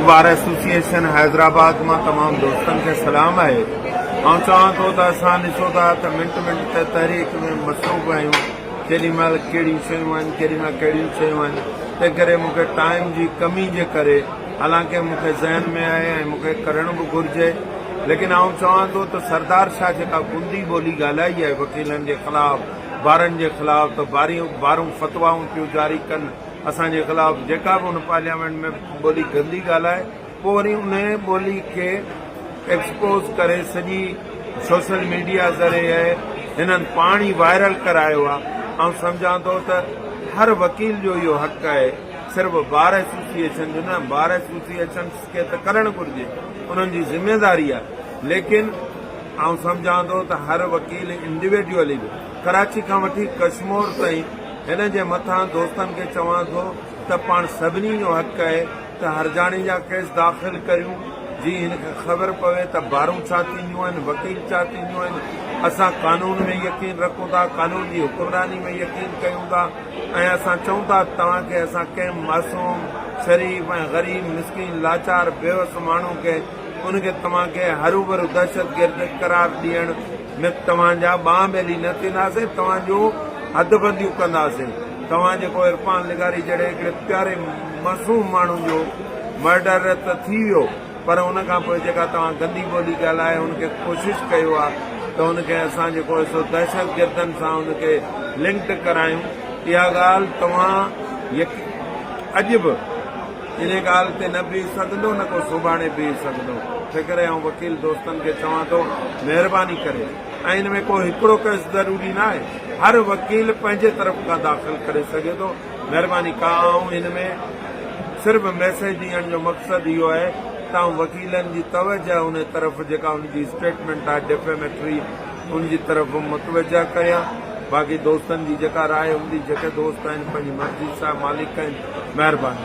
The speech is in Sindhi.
بار ايسوسيئيشن حيدرآباد مان تمام دوستن کي سلام آهي آئون چوان ٿو ته اسان ڏسو ٿا ته منٽ منٽ تي تحريڪ ۾ مصروف آهيون ڪيڏي مهل ڪهڙيون شيون آهن ڪيڏي مهل ڪهڙيون شيون آهن تنهن ڪري مون کي ٽائيم جي ڪمي جي ڪري حالانڪه مون کي ذهن ۾ آهي ۽ مون کي ڪرڻ به گهرجي ليڪن آئون چوان ٿو ته سردار شاهه جيڪا گندي ٻولي ڳالهائي آهي وڪيلن جي خلاف بارن جي خلاف ته باريون بارون فتوائون پيون جاري ڪن اسان جي خلاف جيڪا به ان پارليامينٽ ۾ ٻولي گندي ڳالهائي پوء وري انهي ٻولي کي ايڪسپوز ڪري سڄي سوشل ميڊيا ذريعي هنن پاڻ ئي وائرل ڪرايو آهي آئون سمجهان ٿو ته هر وڪيل جو اهو حق آهي صرف بار ايسوسيئيشن جو نه بار ايسوسيئيشنس کي ته ڪرڻ گهرجي انهن جي ذميواري آهي ليڪن آئون سمجهان ٿو ته هر وڪيل انڊيوڊيولي به ڪراچي کان وٺي ڪشمور تائين هن جي مٿان دوستن کي چوان ٿو ته پاڻ سڀني جو حق آهي ته هرجاڻي جا ڪيس داخل ڪريون جي هن کي خبر پوي ته بارون ڇا ٿينديون آهن وڪيل ڇا ٿينديون آهن اسان قانون ۾ يقين رکون ٿا قانون جي حڪمراني ۾ يقين ڪيون ٿا ۽ اسان چئون ٿا ته توهان کي اسان ڪنهن معصوم شريف ۽ غريب مسڪين لاچار بيوس ماڻهو کي ان کي توهان کي هروڀرو دهشتگرد قرار ڏيڻ نه توهان جا ٻانهن ٻيلي نه ٿينداسين، توهان جون حد بنديون ڪنداسين، توهان جيڪو عرفان لغاري جهڙي هڪڙي پياري معصوم ماڻهو جو مرڊر ته ٿي ويو پر ان کان پوء جيڪا توهان گندي ٻولي ڳالهائي ان کي ڪوشش ڪيو آ ته ان کي اسان جيڪو هي سو دهشتگردن سان ان کي لنڪڊ ڪرايون اها ڳالهه توهان يقين اڄ به انهيء ڳالهه تي نه بيهه سگهندو نه ڪو سوڀاڻي بيهه سگهندو، تنهنڪري آئون وڪيل دوستن کي چوان ٿو، مهرباني ڪري ۽ ان ۾ ڪو هڪڙو ڪيس ضروري نه آهي، هر وڪيل پنهنجي طرف کان داخل ڪري سگهي ٿو، مهرباني ڪا آئون ان ۾ صرف ميسيج ڏيڻ جو مقصد اهو آهي ته آئون وڪيلن جي توجهه ان طرف جيڪا ان جي اسٽيٽمينٽ آهي ڊيفيميٽري، ان جي طرف متوجهه ڪريان باقي دوستن جي جيڪا راء هوندي جيڪي دوست آهن پنهنجي مرضي سان مالڪ آهن مهرباني.